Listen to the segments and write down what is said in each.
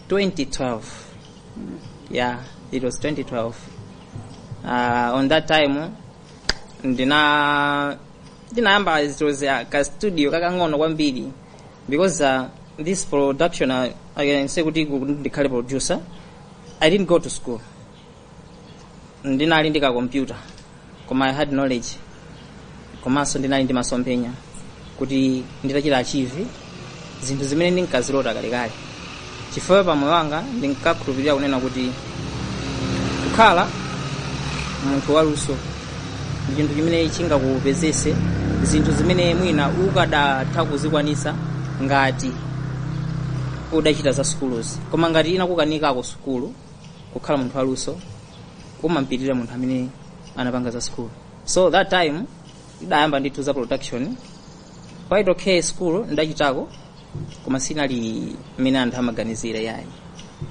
2012 yeah it was 2012 uh, on that time ndina ndinayamba it was uh, ka studio kakang'ono kwambiri because uh, this production uh, i can say kuti ku- ndikhale producer i didn't go to school ndinali ndi kakompyuta koma i had knowledge komanso ndinali ndi masomphenya kuti ndidachita achieve zinthu zimene ndinkazilota kalekale chifukwa pa moyo wanga ndinkakhulupirira kunena kuti kukhala munthu waluso ndi chinthu chimene chingakupezese zinthu zimene mwina ukadatha kuzikwanisa ngati udachita za sukuluzi, koma ngati inakukanikako sukulu kukhala munthu waluso umampitirira munthu amene anapanga za sukulu so that time ndidayamba ndithu za production quite okay sukulu ndidachitako koma sinali mmene anthu amaganizira yayi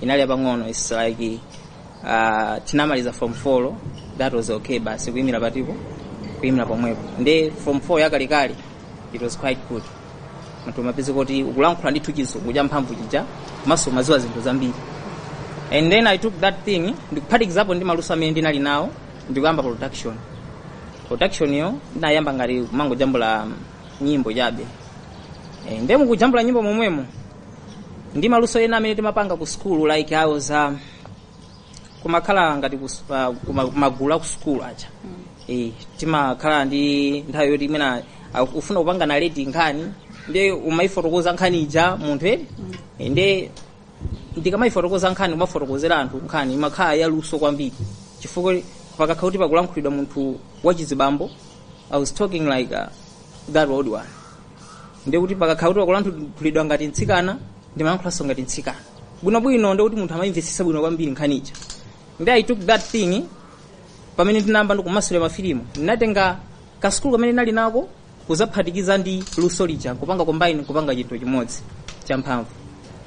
inali yapang'ono its like uh, tinamaliza form 4 that was okay basi kuyimira patiko kuyimira pomwepo nde form 4 yakalekale it was quite good munthu umapeza kuti ukulankhula ndithu chizungu cha mphamvu chija komanso umadziwa zinthu zambiri and then i took that thing ndikuphatikizapo ndi maluso amene ndinali nawo ndikuyamba production production yo ndinayamba ngati kumangojambula nyimbo chabe e, nde mukujambula nyimbo momwemo ndi maluso ena amene timapanga ku school like awo za kumakhala ngati kus- pa- kuma- kumagulu aku school aja Eh, timakhala ndi nthawi yoti imene aku- ufuna kupanga narrate nkhani nde umayifotokoza nkhani ija munthu eni Eh, nde ndikamayifotokoza nkhani umafotokozera anthu nkhani imakhala yaluso kwambiri chifukwa pakakhala kuti pakulankhulidwa munthu wachizibambo i was talking like uh, that old one ndiye kuti pakakhala kuti pakulankhulidwa ngati mtsikana ndimayankhulanso ngati mtsikana bwinobwino ndiye kuti munthu amayimvetsetsa bwino kwambiri nkhani ija nde i took that thing pamene ndinayamba ndikumasulira mafilimu ndinatenga kasukulu kamene ndinali nako kuzaphatikiza ndi luso lija kupanga combine kupanga chinthu chimodzi champhamvu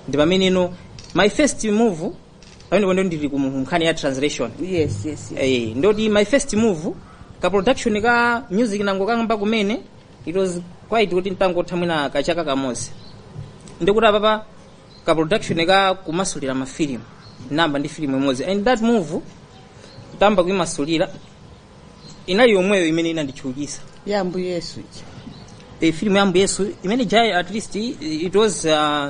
ndi pameneno my first move pamene pano ndili ku nkhani ya translation yes yes, yes. eh, ndoti my first move ka production ka music nango kangoyamba kumene it was quite kuti ntangotha mwina kachaka kamodzi ndikuti apapa ka production ka kumasulira mafilimu namba ndi filimu imodzi and that movie tamba kuimasulira inali yomweyo imene inanditchukitsa ya ambuye yesu ija e, filimu ya ambuye yesu imene ija at least it was uh,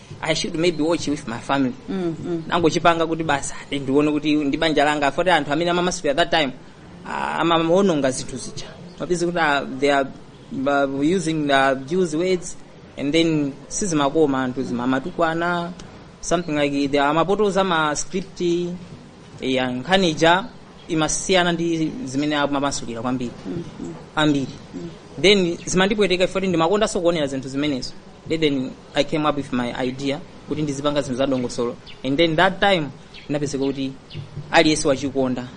i should maybe watch with my family Mm, mm. nangochipanga kuti basi ati ndione kuti ndi banja langa foti anthu amene amamasulira that time ah, amawononga zinthu zija umapeza kuti ah, they are ah, using the abuse words and then sizimakoma anthu amamatukwana something like that amapotoza ma script ya nkhani ija imasiyana ndi zimene amamasulira kwambiri ambiri then zimandipweteka foti ndimakondanso kuonera zinthu zimenezo then i came up with my idea kuti ndizipanga zinthu za dongosolo and then that time ndinapezeka kuti aliyense wachikonda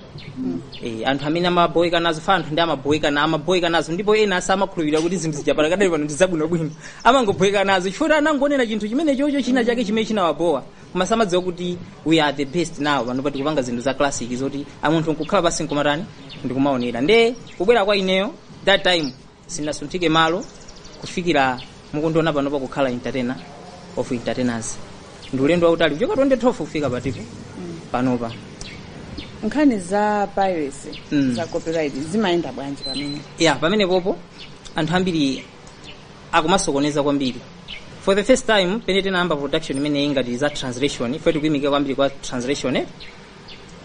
Eh, anthu amene amaboweka nazo fa anthu ndi amaboweka na amaboweka nazo ndipo ena asa amakhulupirira kuti zinthu zija palakadali pano ndizabwinobwino amangoboweka nazo chifukwa anangonena chinthu chimene chocho china chake chimene chinawabowa koma samadziwa kuti we are the best now pano pa kupanga zinthu za classic zoti munthu nkukhala pasi nkumatani ndikumaonera nde kubwera kwa ineyo that time sinasunthike malo kufikira mukundiona panopa kukhala entertainer of entertainers ndi ulendo wautali kuchoka 2012 kufika patipo panopa nkhani za piracy Mm. za copyright zimayenda bwanji pamene ya pamene popo anthu ambiri akumasokoneza kwambiri for the first time pene tinayamba production imene ingati za translation ife tikutsamira kwambiri kwa translation eh,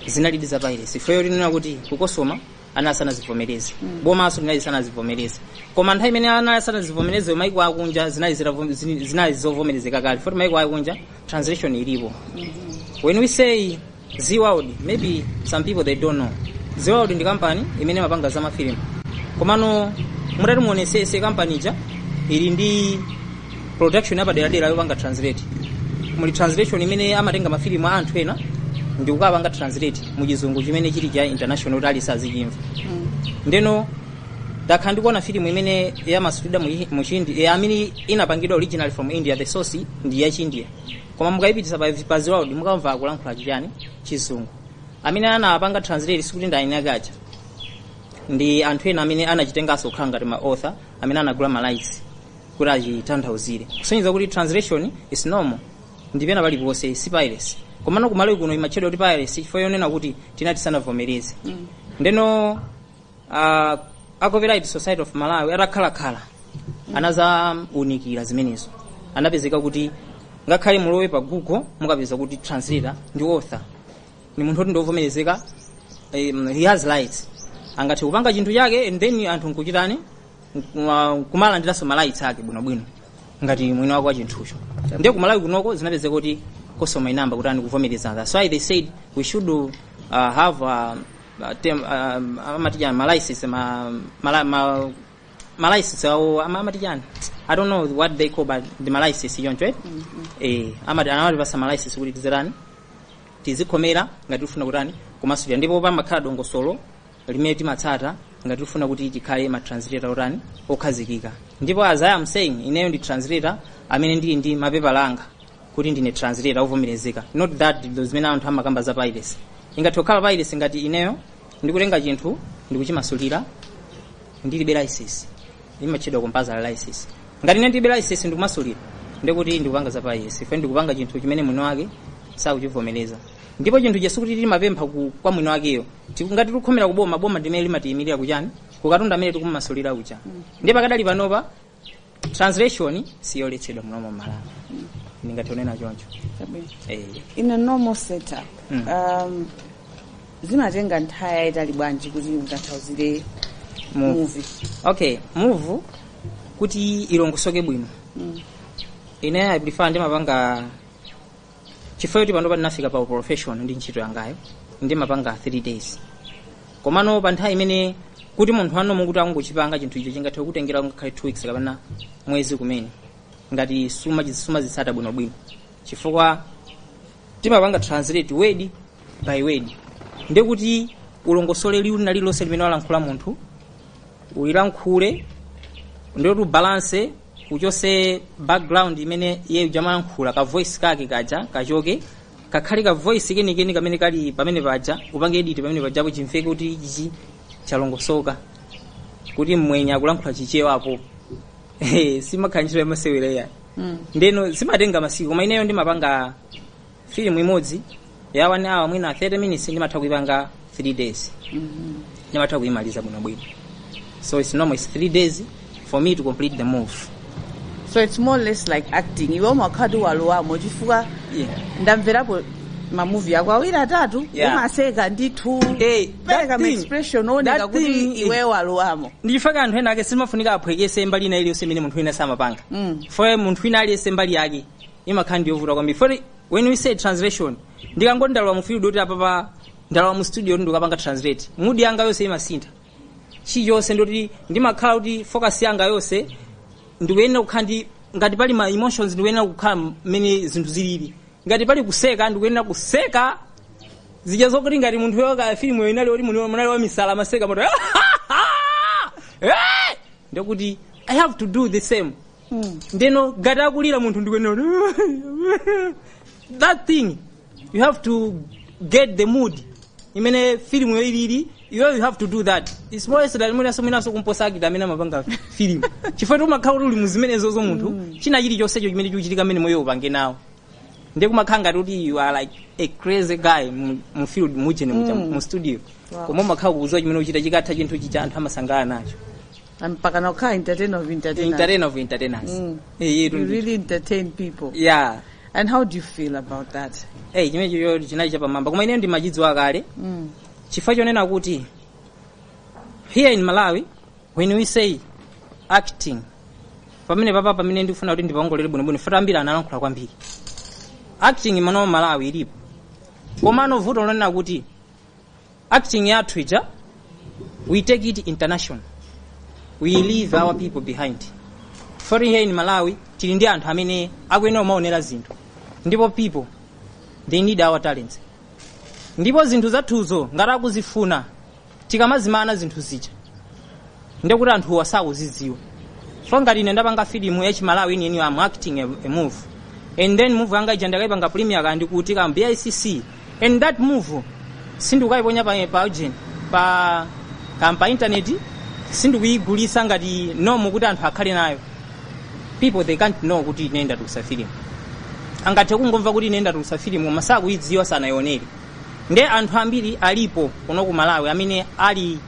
zinalidi za piracy ifeyo tinena kuti ku COSOMA anali asanazivomereze bomanso linali lisanazivomereze koma nthawi imene anali asanazivomereze maiko akunja zinali zitavom- zini- zinali zovomerezeka kale foti maiko akunja translation ilipo when we say Zee World maybe some people they don't know Zee World ndi kampani imene imapanga za mafilimu komano mutati muonesese kampani ija ili ndi production yapaderadera yopanga translate muli translation imene amatenga mafilimu a anthu ena ndi kukapanga translate mu chizungu chimene chili cha international kuti aliyense azichimva ndeno takhala ndikuona filimu imene yamasulidwa mu chi- mu chindi eh, amene inapangidwa original from india the source ndi ya chindia koma mukayipitisa pa, pa Zee World mukamva akulankhula chichani chizungu amene anapanga translate sikuti ndi eni ake aja ndi anthu ena amene anachitenganso kukhala ngati ma author amene anagula ma rights kuti achitanthauzire kusonyeza kuti translation is normal ndi pena paliponse si piracy komano kumalawi kuno imatchedwa kuti piracy chifukwa chonena kuti tina tisanavomereze ndeno uh, a copyright society of malawi atakhalakhala anazaunikira zimenezo anapezeka kuti ngakhale mulowe pa google mukapeza kuti translator ndi author ni munthu oti ndiovomerezeka um, he has rights angathe kupanga chinthu chake and then anthu nkuchitani kumalandiranso ma rights ake bwinobwino ngati mwini wake wa chinthucho ndiye kumalawi kunoko zinapezeka kuti COSOMA inayamba kutani kuvomereza that so i they said we should uh, have uh, uh, tem, uh, amatijani ma license ma, mala, ma, ma license awo ama- amatijani i don't know what they call but the ma license yoncho eh? eh, amati amatipatsa ma license kuti tizerani tizikhomera ngati tifuna kutani kumasulira ndipo pamakhala dongosolo limene timatsata ngati tifuna kuti tikhale ma translator otani okhazikika ndipo as I am saying ineyo ndi translator amene ndili ndi mapepala anga kuti ndine translator ovomerezeka not that ndi zimene anthu amakamba za piracy ingathe kukhala piracy ngati ineyo ndikutenga chinthu ndikuchimasulira ndilibe license limatchedwa compulsory license ngati ine ndilibe license ndikumasulira ndikuti ndikupanga za piracy if ndikupanga chinthu chimene mwini wake sakuchivomereza ndipo chinthu chesu kuti timapempha ku- kwa mwini wakeyo Ti- ngati tikukhomera kuboma boma ndimene limatiyimirira kuchani kukatundu amene tikumasulira uja ndiye pakadali panopa translation siyoletsedwa muno mu malawi ndingathe kunena choncho Chabwino. Eh. in a normal setup Mm. um, zimatenga nthawi yayitali bwanji kuti mukathanthauzire Mu- muvi okay movie kuti ilongosoke bwino ine i prefer ndimapanga chifukwa choti panopa ndinafika pa profession ndi ntchito yangayo ndimapanga 3 days komano pa nthawi imene kuti munthu wanu akuti angochipanga chinthu icho chingathe kutengera ngakhale 2 weeks kapena mwezi kumene ngati suma- sumazitsata bwino bwino chifukwa timapanga translate word by word ndi kuti ulongosole liwu lina lililonse limene walankhula munthu ulilankhule ndi kuti ubalance uchose background imene iye uja amayankhula ka voice kake kaja kachoke kakhale ka voice kenikeni kamene kali pamene paja upange edit pamene pajapo chimveke kuti ichi chalongosoka kuti mmwenye akulankhula chichewa apo siimakhala ntchito yamasewera yayi Mm. ndiyeno zimatenga masiku koma ineyo ndimapanga filimu imodzi ya one hour mwina 30 minutes ndimatha kuipanga 3 days ndimatha kuimaliza bwinobwino so it's normal it's 3 days for me to complete the movie so it's more or less like acting iwe umakhati walowamo chifukwa yeah. ndamverapo mamuvi ako awiri atatu Yeah. umaseka ndithu kupereka thing- maexpression oneka that kuti thing is- iwe walowamo nchifukwa anthu ena ake simafunika aphweketse mbali ina iliyonse imene munthu wina samapanga Mm. for munthu wina aliyense mbali yake imakhala ndi yovuta kwambiri for when we say translation ndikangoti ndalowa mu field oti apapa ndalowa mu studio oti ndikapanga translate mood yanga yonse imasintha chilichonse ndoti ndimakhala kuti focus yanga yonse ndikuyenera kukhala ndi ngati pali ma emotions ndikuyenera kukhala mmene zinthu zilili ngati pali kuseka ndikuyenera kuseka zija zokuti ngati munthu yo ka filimuyo inali oti munthu anali wamisala amaseka moto ndikuti i have to do the same ndeno ngati akulira munthu ndikuyenera that thing you have to get the mood imene filimuyo ilili iwe you have to do that its more so that mwinaso mwinaso kumposa actor amene amapanga filimu chifukwa kuti umakhala kuti uli mu zimenezozo munthu china chilichonsecho chimene chikuchitika amene moyo upange nawo ndiye kumakhala ngati kuti you are like a crazy guy mu- mu field mujene muja mu studio koma umakhala ukuziwa chimene ukuchita chikatha chinthu chija anthu amasangalala nacho mpaka nakukhala entertainer of entertainers entertainer of entertainers Mm. Eh, you really entertain people yeah and how do you feel about that hey chimenechocho chinali chapamwamba koma ineyo ndimachidziwa kale mm. chifukwa chonena kuti here in malawi when we say acting pamenepapa pamene ndikufuna kuti ndipawongole bwinobwino futi ambiri analankhula kwambiri acting imeneyi malawi ilipo komano vuto lonena kuti acting yathu ija we take it international we leave our people behind for here in malawi tili ndi anthu amene akuyenera kumaonera zinthu ndipo people they need our talents ndipo zinthu zathuzo ngati akuzifuna tikamazimana zinthu zija ndiye kuti anthuwa sakuzidziwa so ngati ine ndapanga filimu ya chimalawi ine ine am acting a, a movie and then movie yanga ija ndakaipanga premiere kaya ndi kuti ku bicc and that movie sindikukaiponya pa pa agent pa pa, pa internet sindikuyigulisa ngati momo kuti anthu akhale nayo people they can't know kuti ine ndatulutsa filimu angathe kungomva kuti ine ndatulutsa filimu koma sakuyidziwa sanayionere nde anthu ambiri alipo kuno ku malawi amene ali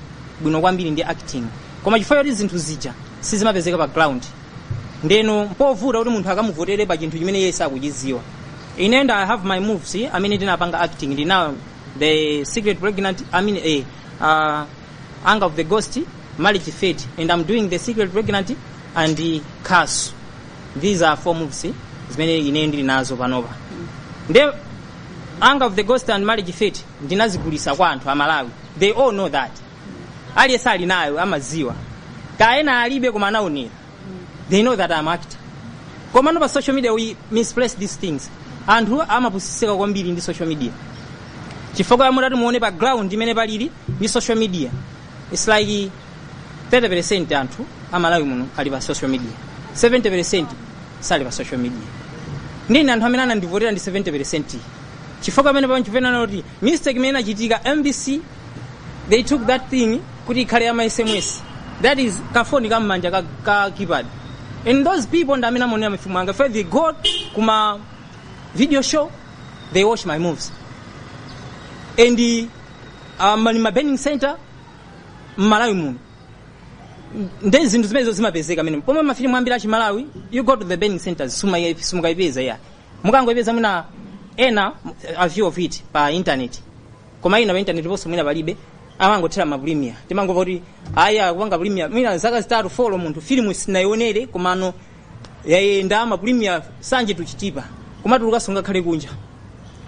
bwino kwambiri ndi acting koma chifukwa choti zinthu zija sizimapezeka pa ground ndeno mpovuta kuti munthu akamuvotere pa chinthu chimene iye sakuchidziwa in end i have my movies eh, amene ndinapanga acting ndina the secret pregnant i mean eh, uh, anger of the ghost marriage fate and i'm doing the secret pregnant and eh, curse these are four movies eh, zimene ine ndili nazo panopa nde anger of the ghost and marriage fate ndinazigulisa kwa anthu amalawi they all know that aliyense ali nayo amaziwa kaya ena alibe koma anaonera they know that I'm actor komano pa social media we misplace these things anthu amapusisika kwambiri ndi social media chifukwa ya mmene titati muone pa ground mmene palili ndi social media it's like 30% anthu amalawi muno ali pa social media 70% sali pa social media ndiye anthu amene anandivotera ndi 70% chifukwa pamene pamene chipena kuti mistake imene inachitika mbc they took that thing kuti ikhale ya masses that is kafoni ka mmanja ka, ka keypad and those people ndi amene amaonera mafimu anga eeh they go kuma video show they watch my movies and uh, muli ma burning center mmalawi muno nde zinthu zimenezo zimapezeka mmenemo pomwe mafilimu ambiri achimalawi you go to the burning centers sumakaipeza ya mukangoipeza mwina ena a few of it pa internet koma ina pa internet ponso mwina palibe amangothera ma premier timangova kuti ayi akupanga premier mwina zaka zitatu folo munthu filimu sinayionere komano yayenda ma premier sanje tuchitipa koma tulukanso ngakhale kunja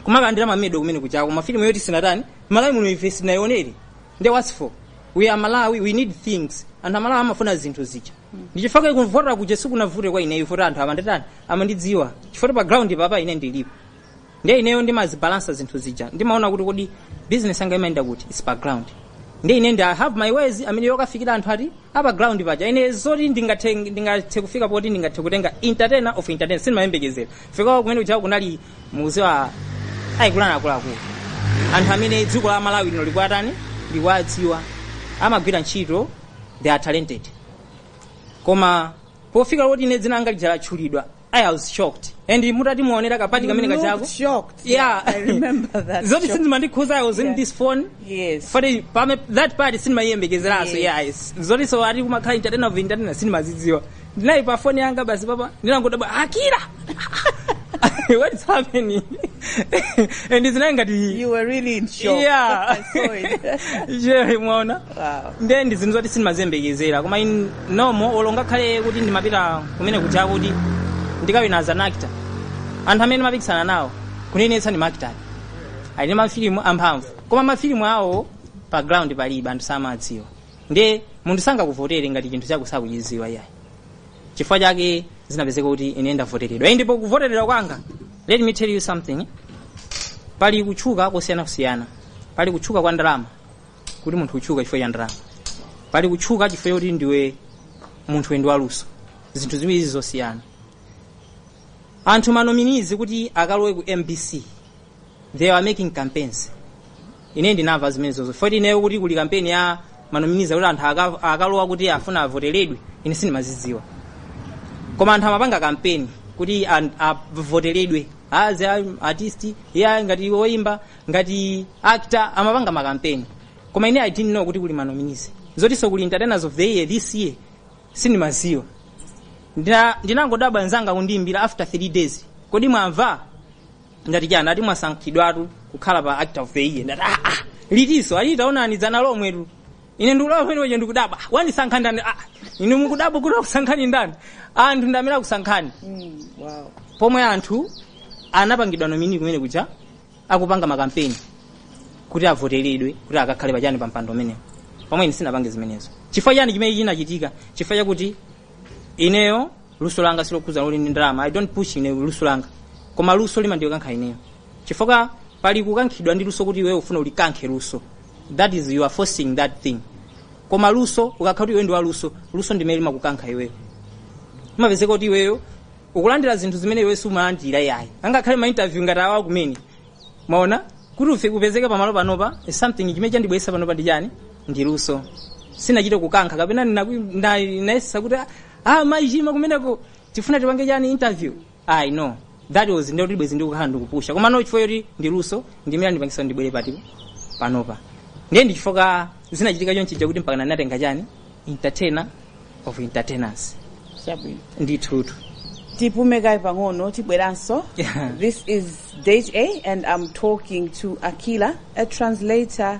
kumakalandira mamedo kumene kujako mafilimu yoti sinatani malawi muno ife sinayionere nde what's for we are malawi we need things anthu amalawi amafuna zinthu zija ndichifukwa yake kuvotera kuja sikunavute kwa ineyo foti anthu amandatani amandidziwa chifukwa pa ground papa ine ndilipo ndiye ineyo ndimazibalansa zinthu zija ndimaona kuti kodi business yanga imayenda kuti its pa ground ndiye ine ndi i have my ways mmene yokafikira anthu ati apa ground paja ine zoti ndingathe ndingathe kufika poti ndingathe kutenga entertainer of entertainers sindimayembekezera chifukwa kumene kuja kunali mukudziwa akuluakulu akuluakulu anthu amene dziko la malawi lino likwatani likwadziwa amagwira ntchito they are talented koma pofika kuti ine dzina langa lija latchulidwa i was shocked and mutati muonera kapati kamene You kajako looked shocked. yeah I remember that. zoti shocked. sizimandikhudza i was in Yeah. this phone Yes. fati pame that part sindimayiyembekezeranso Yes. yes zotinso ati kumakhala entertainer of entertainers sindimazidziwa ndinali pa foni yanga basi papa ndinangodabwa akira what's happening and it's not ngati You were really in shock. Yeah. I saw it. nde mwaona Wow. nde ndi zinthu zoti sindimaziyembekezera koma nomo olo ngakhale kuti ndimapita kumene kuja kuti ndikawina as an actor anthu amene ndimapikisana nawo kunenetsa ndi ma actor ali ndi mafilimu amphamvu koma mafilimu awo pa ground palibe anthu samawadziwa nde munthu sangakuvotere ngati chinthu chako sakuchidziwa iyayi chifukwa chake zinapezeka kuti ine ndavoteredwa Ine ndipo kuvoteredwa kwanga let me tell you something pali kutchuka kosiyanasiyana pali kutchuka kwa ndalama kuti munthu ukutchuka chifukwa cha ndalama pali kutchuka chifukwa chakuti ndiwe munthu wendiwe waluso zinthu ziwirizi zosiyana anthu ma nominees kuti akalowe ku mbc they were making campaigns ine ndinamva zimenezo zoti ineyo kuti kuli kampeni ya ma nominees kuti anthu aka- akalowa kuti afuna avoteredwe ine sindimazidziwa koma anthu amapanga kampeni kuti an- avoteredwe azi a- artist uja ngati woyimba ngati actor amapanga makampeni koma ine i didn't know kuti kuli ma nominees zotinso kuli entertainers of the year this year sindimadziwa Ndina- ndinangodabwa nzanga kundiimbira after 3 days kodi mwamva ndati chani akuti mwasankhidwatu kukhala pa actor of the year ndati ah, ah, litinso akuti taonani dzana lomwetu ine ndikulawa pamenepocho ndikudabwa "Ah, wandisankha ndani ah, ine mukudabwa kuti akusankhani ndani anthu ndi amene akusankhani wow. pomwe anthu anapangidwa nominate kumene kuja akupanga makampeni kuti avoteredwe kuti akakhale pachani pa mpando umenewo pomwe ine sindinapange zimenezo chifukwa chani chimene chinachitika chifukwa chakuti ineyo luso langa silokhudzana kuti ndi ndalama i don't push ine luso langa koma luso limandikankha ineyo chifukwa pali kukankhidwa ndi luso kuti iweyo ufuna ulikankhe luso that is you are forcing that thing koma luso ukakhala kuti iwe ndi wa luso luso ndimene limakukankha iweyo imapezeka kuti iweyo ukulandira zinthu zimene iwe sumalandira yayi angakhale ma interview ngati awa kumene mukuona kuti ife kupezeka pamalo panopa is something chimene chandibweretsa panopa ndi chani ndi luso sindinachite kukankha kapena ndinayesa kuti ah, ah Mayi Chima kumeneko tifuna tipange chani interview I know that was ndiye kuti bwezi ndikukhala ndikupusha koma no chifukwa choti ndi luso ndimene landipangisa ndibwere pati panopa ndiye ndichifukwa zinachitika chonchija kuti mpaka ndinatenga chani entertainer of entertainers chabwino ndithutu tipume kaye pang'ono tibweranso Yeah. this is date a and i'm talking to Akila a translator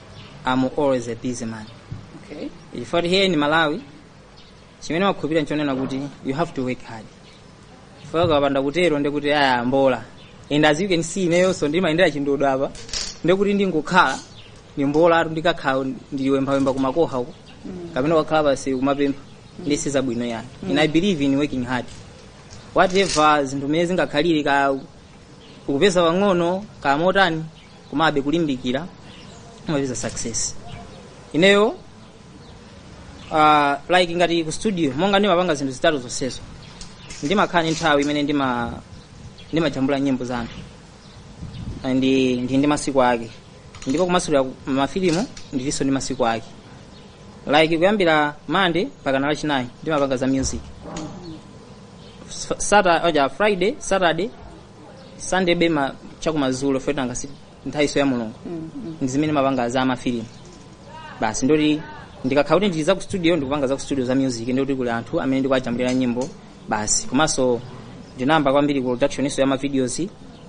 I'm always a busy man okay chifukwa here in malawi chimene ndimakhulupirira nchonena kuti you have to work hard chifukwa ukapanda kutero ndekuti aya mbola and as you can see ineyonso ndimayendera ndodo apa ndekuti ndingokhala ndi mbola atu ndikakhala ndiliwembawemba kumakoha uko kapena kukakhala pansi kumapempha nde si zabwino yani and i believe in working hard whatever zinthu mmene zingakhalire kaya ukupeza pang'ono kamotani komabe kulimbikira umapeza success ineyo uh, like ngati ku studio monga ndimapanga zinthu zitatu zonsezo ndimakhala ndi nthawi imene ndima ndimajambula nyimbo za anthu And ndi ndi ndi masiku ake ndipo kumasulira ku- mafilimu ndilinso ndi masiku ake like kuyambira mande mpakana lachinayi ndimapanga za music Sata- oja friday saturday sande koma chakumadzulo after nthawinso ya mulungu ndi zimene ndimapanga za mafilimu basi ndekuti ndikakhala kuti ndili za ku studio ndikupanga za ku studio za music ndikuti kuli anthu amene ndikuwajambulira nyimbo basi komanso ndinayamba kwambiri ku productioninso ya mavideos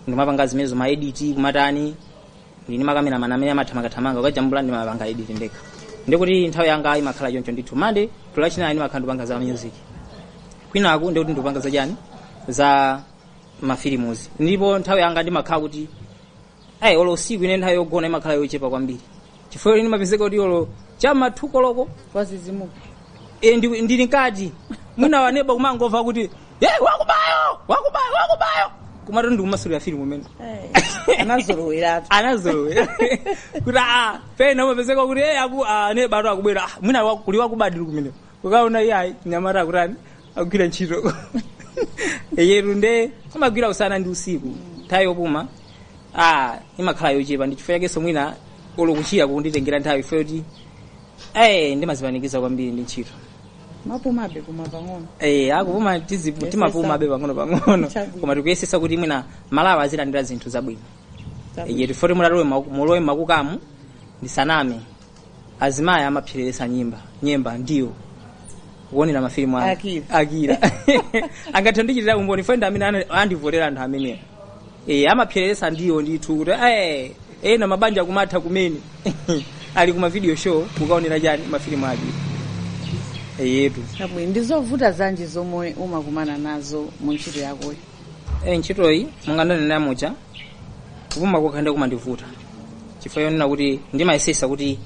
ndimapanga zimenezo ma edit kumatani ndili ndi makameramani amene amathamangathamanga kukajambula ndimapanga edit ndekha ndikuti nthawi yanga imakhala choncho ndithu mande to lachinayi ndimakhala ndikupanga za music kwinaku ndikuti ndikupanga za chani za mafilimuzi ndipo nthawi yanga ndimakhala kuti ayi olo usiku ine nthawi yogona imakhala yochepa kwambiri chifukwa ine ndimapezeka kuti olo cha m'ma two koloko ndadzidzimuka e, ndi- ndili mkati mwina waneba kumangomva kuti "Eh, wakubayo wakubayo wakubayo kumati ndikumasulira filimu umene anazoloweratu anazolowera kuti a pena umapezeka kuti e aku aneba tu akubwera "Ah, mwina wa- kuli wakubadi kumene ukaona iye ayi nyamata akutani agwira ntchito yetu nde amagwira usana ndi usiku nthawi yopuma ah imakhala yochepa ndi chifukwa chakenso mwina olo kuchira kukunditengera nthawi chifo choti eh ndimazipanikiza kwambiri ndi ntchito ndimapumabe koma pang'ono eh akupuma tizipu- timapumabe pang'ono pang'ono Chabwino. koma tikuyesesa kuti mwina Malawi azilandira zinthu zabwino Chabwino. eyetu foti mulalowe maku- mulowe makukamu ndisaname azimayi amapsereresa nyimba nyemba ndiwo kuonera mafilimu a Akira. akira angathe kundichitira umboni fo ndi amene ana- andivotera anthu amenewo e, amapsereresa ndiwo ndithu kuti "Eh, ena mabanja kumatha kumene ali kuma video show kukaonera chani mafilimu Akira eyetu Chabwino, ndi zovuta zanji zomwe umakumana nazo mu ntchito yakoyo e, ntchitoyi m'mene ndanenera muja kupuma kokha ndiye kumandivuta chifukwa chonena kuti ndimayesesa kuti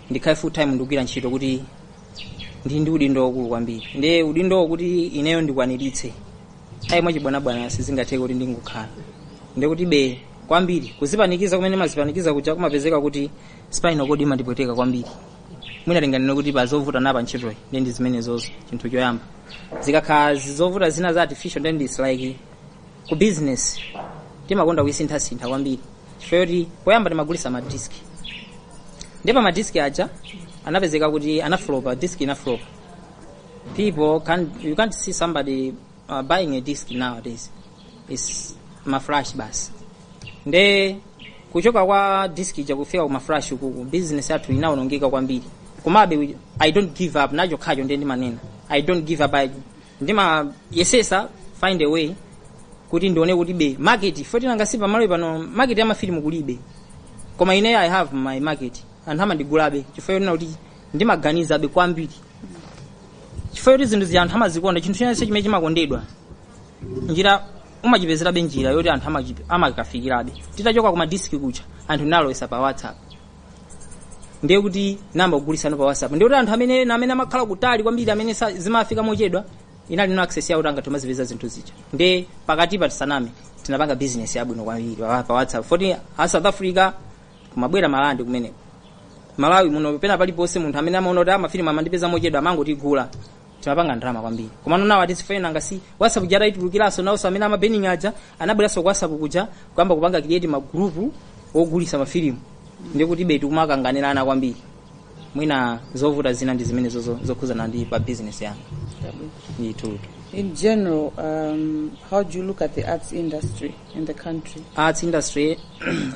ndikhale full time ndikugwira ntchito kuti ndi ndi udindo waukulu kwambiri ndiye udindowo kuti ineyo ndikwaniritse ayi mwachibwanabwana sizingatheke kuti ndingokhala ndiye kuti be kwambiri kuzipanikiza kumene ndimazipanikiza kuja kumapezeka kuti spinal cord imandipweteka kwambiri mwina tinganene kuti pazovuta zapa ntchitoyi ndi ndi zimenezozo chinthu choyamba zikakhala zovuta zina za artificial then it's like ku business imakonda kusinthasintha kwambiri chifukwa choti poyamba tinkagulisa madiski ndiye madiski aja anapezeka kuti anaflopa disk inaflopa people can you can't see somebody uh, buying a disc nowadays is maflash basi nde kuchoka kwa disk ija kufika ku maflash uku ku business yathu inaonongeka kwambiri komabe we- i don't give up ndi chokhacho ndiye ndimanena i don't give up I, ndimayesesa find a way kuti ndione kuti be market foti nanga si pamalo pano market ya mafilimu kulibe koma ine i have my market anthu amandigulabe chifukwa chonena kuti ndimaganizabe kwambiri chifukwa choti zinthu zija anthu amazikonda chinthu chinanso chimene chimakondedwa njira umachipezerabe njira yoti anthu amachipe- amakafikirabe titachoka ku madiski kuja anthu tinalowesa pa whatsapp ndiye kuti ndinayamba kugulisano pa whatsapp ndiye kuti anthu amene ena amene amakhala kutali kwambiri amene sa- zimafika mochedwa inali no access yoti atha kumazipeza zinthu zija ndiye pakati pa tisaname tinapanga business yabwino kwambiri pa pa whatsapp foti a south africa kumabwera marandi kumeneko malawi muno pena paliponse munthu amene amaona kuti amafilimu amandipeza mochedwa amangotigula timapanga ndalama kwambiri komano nawo atizifunanga si whatsapp ija itatulukiranso nawonso amene amabeninga aja anabweranso ku whatsapp kuja kuyamba kupanga create magrupu ogulisa mafilimu ndikuti beti kumakanganirana kwambiri mwina zovuta zina ndi zimene zozo- zokhuzana ndi pa business yanga ndithutu In general, um, how do you look at the arts industry in the country? arts industry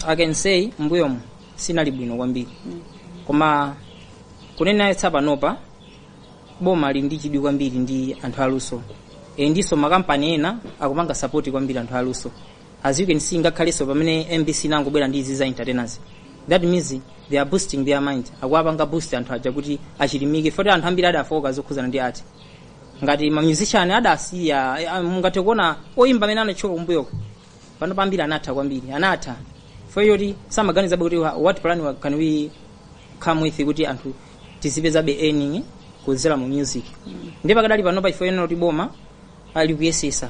i can say mbuyomu sinali bwino kwambiri koma kunena eyetsa panopa boma lili ndi chidwi kwambiri ndi anthu aluso e, ndiso makampani ena akupanga sapoti kwambiri anthu aluso as you can see ngakhalenso pamene mbc inangobwera ndi izi za entertainers that means they are boosting their mind akuwapanga boost anthu aja kuti achilimike foti anthu ambiri adafoka zokhuzana ndi art ngati mamusician adasiya eh, ah, mungathe kuona oyimba amene anatchuka kumbuyoko panopa ambiri anatha ambiri anatha foti samaganizabe kuti wa- what plan wa- can we come with kuti anthu tizipezabe earning kudzera mu music ndi pakadali panopa ifeyo tikuona kuti boma likuyesesa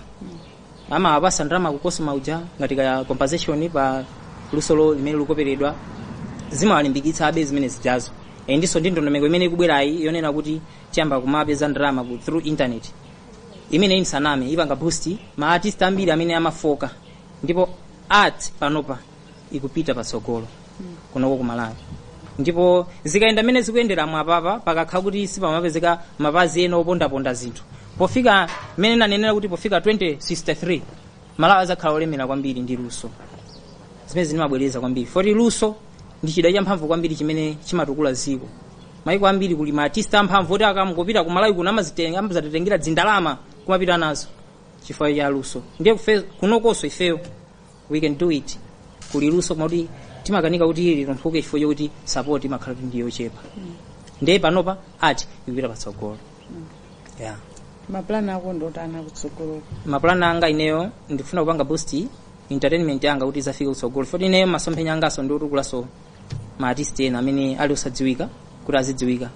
amawapasa ndalama ku cosoma uja ngati kaya compensation pa lusolo limene likuperedwa zimawalimbikitsabe zimene zijazo e ndinso ndi ndondomeko imene ikubwerayi yonena kuti tiyamba kumapeza ndalama ku through internet imeneyi nsaname ipanga boost ma artist ambiri amene amafoka ndipo art panopa ikupita patsogolo kunoko ku malawi ndipo zikayenda mmene zikuyendera mwa apapa pakakhala kuti sipamapezeka mapazi ena opondaponda zinthu pofika mmene nanenera kuti pofika 2063 malawi azakhala wolemera kwambiri ndi luso zimene ndimabwereza kwambiri foti luso ndi chida champhamvu kwambiri chimene chimatukula dziko maiko ambiri kuli ma artist amphamvu oti akamangopita ku malawi kuno amazitenga amazatitengera ndalama kumapita nazo chifukwa cha luso ndiye kufe- kunokonso ifeyo we can do it kuli luso koma kuti timakanika kuti litumphuke chifukwa chokuti support imakhala kuti ndiyo yochepa ndiye panopa art ikupita patsogolo yeah. mapulani ako ndi otani kutsogoloku mapulani anga ineyo ndikufuna kupanga boost entertainment yanga kuti izafike kutsogolo foti ineyo masomphenya angaso ndiotukulaso ma artist ena amene ali osadziwika kuti azidziwika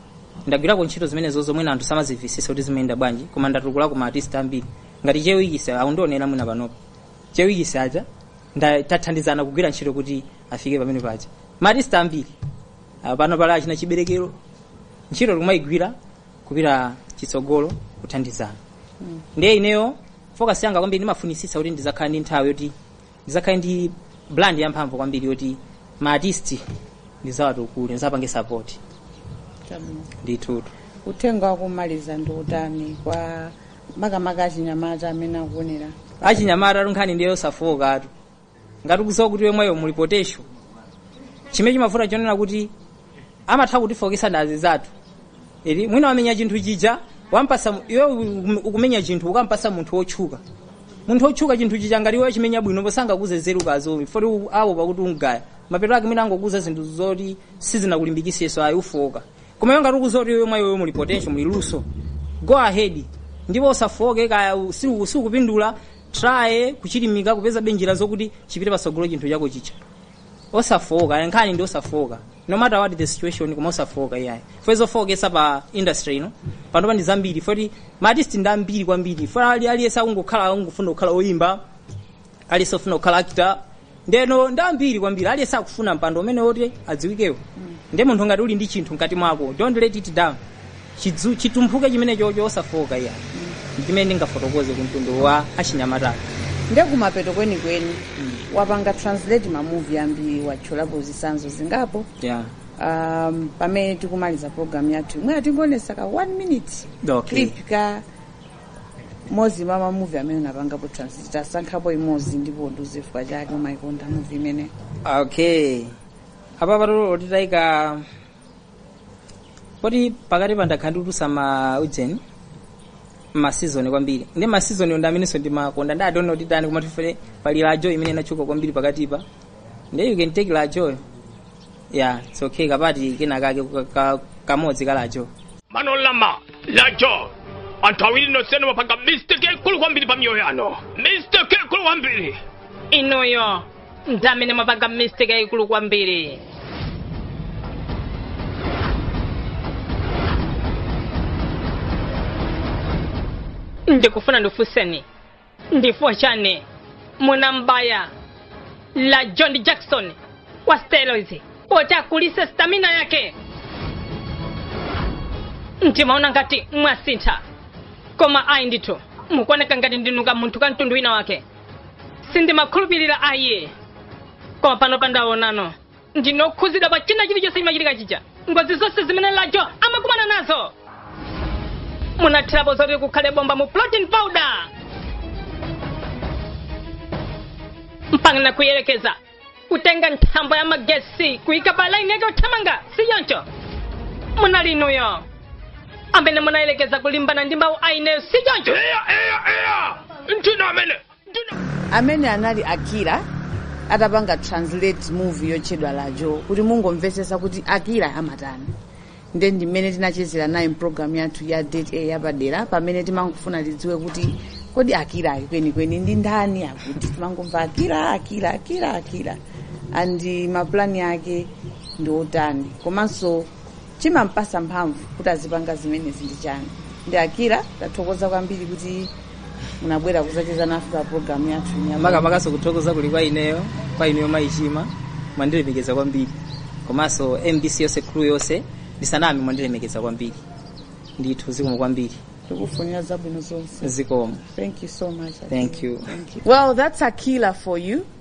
ndagwirako ntchito zimenezo zomwe na anthu samazimvesesa kuti zimayenda bwanji koma ndatukulako ma artist ambiri ngati chewikise akundionera mwina panopo chewikise aja nda- tathandizana kugwira ntchito kuti afike pamene paja ma artist ambiri Ah, pano pali achina chiberekero ntchito tikumayigwira kupita chitsogolo kuthandizana ndiye ineyo focus yanga kwambiri ndimafunisisa kuti ndizakhale ndi nthawi yoti ndizakhale ndi brand yamphamvu kwambiri yoti ma artist ndizawatukule ndizapange support Chabwino. ndithutu uthenga wakumaliza ndi utani kwa makamaka achinyamata amene akuonera achinyamatatu nkhani ndi yosafookatu ngati ukuziwa kuti mwa iweyo muli potential chimene chimavuta chonena kuti amatha kutifokesa ndi azinzathu eti mwina wamenya chinthu chija wampasa mu- iwe ukum- ukumenya chinthu ukampasa munthu wotchuka munthu wotchuka chinthu chija ngati iwe wachimenya bwino sangakuuze nzeru kazowi foti u- awopa kuti ungaya mapeto ake mwina angokuuza zinthu zoti sizinakulimbikiseso ayi ufooka koma iwe ngati ukuziwa kuti iwe mwa iweyo muli potential muli luso go ahead ndipo usafooke kaya u- si u- sukupindula try kuchilimika kupezabe njira zokuti chipite pasogolo chinthu chako chija osafowoka nkhani ndi osafowoka no matter what the situation koma osafowoka iyayi fwe zofowokesa pa industry ino panopa ndi zambiri fweti maartist ndi ambiri kwambiri fwe ali aliyense akungokhala akungofuna kukhala oyimba aliyense ofuna kukhala actor ndeno ndi ambiri kwambiri aliyense akufuna mpando umene woti adziwikewo nde munthu ngati uli ndi chinthu mkati mwako don't let it down chidzu chitumphuke chimenecho osafooka iyayi ndi chimene ndingafotokoze ku mtundu wa achinyamata nde kumapeto kwenikweni wapanga translate mamuvi ambiri watchulapo zisanzo zingapo yeah. um, pamene tikumaliza program yathuyi mwina tingoonesa ka one minute Okay. clip kamozi mwa mamuvi amene unapangapo translate tasankhapo imozi ndipo undiuze chifukwa chake umaikonda muvi imeneyo okay apa patolo titayika poti pakatipa ndakhala ndikutulusa ma ujeni masizoni kwambiri ndi masizoni ndi amenenso ndimakonda ndi I don't know kuti tani koma tifere pali Rajjo imene inatchuka kwambiri pakatipa ndi you can take Rajjoyo yeah it's okay ka part kena kake ka- ka- kamodzi ka Rajjo Manorama Rajjo anthu awiri nonsenu mwapanga mistake yaikulu kwambiri pa miyoyo yanu mistake yaikulu kwambiri inuyo ndi amene mwapanga mistake yayikulu kwambiri ndikufuna ndifunseni ndi chifukwa chani munambaya Rajjo jakisoni wa steroids poti akulise stamina yake ndimaona ngati mwasintha koma ayi ndithu mukuoneka ngati ndinu kamunthu ka mtundu wina wake sindimakhulupirira ayi koma panopa ndaonano ndinu okhuzidwa pa china chilichonse chimachitika chija ngozi zonse zimene Rajjo amakumana nazo munathirapo zoti kukhale bomba mu protein powder mpakana kuyerekeza kutenga nthambo ya magesi kuika pa laini yake othamanga si choncho munali inuyo amene munayelekeza kulimbana ndi mawu a ineyo si choncho eya eya eya ndinu amene amene anali akira atapanga translate movie yotchedwa lajo kuti mungomvesesa kuti akira amatani nde ndi mmene tinachezera naye mpulogalamu yathu ya date a yapadera pamene timangofuna tidziwe kuti kodi akirayu kwenikweni ndi ndani poti timangomva akira akira akira akira and mapulani ake ndi otani komanso chimampasa mphamvu kuti azipanga zimenezi ndi chani ndi akira tathokoza kwambiri kuti munabwera kuzacheza nafe pa programu yathu inayi. makamakaso kuthokoza kuli kwa ineyo kwa ineyo mayichima mwandilemekeza kwambiri komanso mbc yonse crew yonse ndisaname mwandilemekeza kwambiri ndithu zikomo kwambiri tikufunira zabwino zonse zikomo thank you so much thank you well that's akira for you